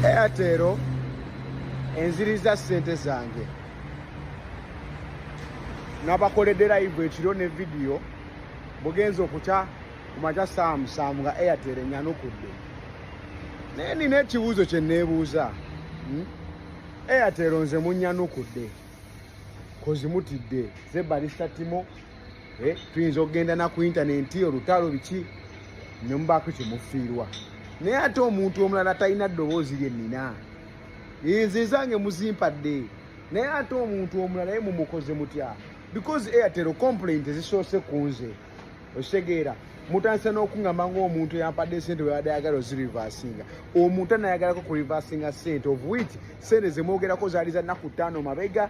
airtel enziriza sente zange nabakoledde live ekiro ne vidiyo bugenza okukya ku makya saamusaamu nga airtel enyanukudde naye nina ekibuuzo kye neebuuza hmm? airtel nze munyanukudde kozimutidde zebalisa timo Eh, tuyinza okugenda naku intanenti olutaalo biki nemubaako kyemufiirwa naye ate omuntu omulala talina ddoboozi lyennina ezezange muzimpadde naye ate omuntu omulala ye mumukoze mutya because airtel complaint ezisoose ku nze okitegeera mutandise n'okuŋamba ngaomuntu eyampadde esente webadde ayagala ozirivasinga omuntu anayagalako ku rivasinga sente of wit sente zemwogerako zaali za nnaku ttaano mabega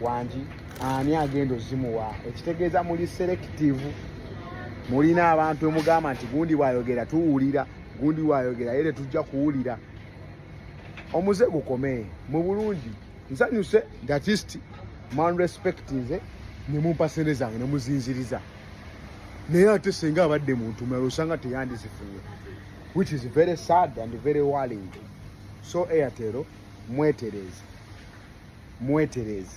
wangi ani agenda ozimuwa ekitegeeza muli selekitivu mulina abantu emugamba nti gundi bwayogera tuwulira gundi bwayogera yere tujja kuwulira omuze gukome mu bulungi nsanyuse gatist man respect nze nemumpa sente zange nemuzinziriza naye ate senga abadde muntu mulala osanga teyandizifunye which is very sad and very worrying so airtelo mwetereeze mwetereeze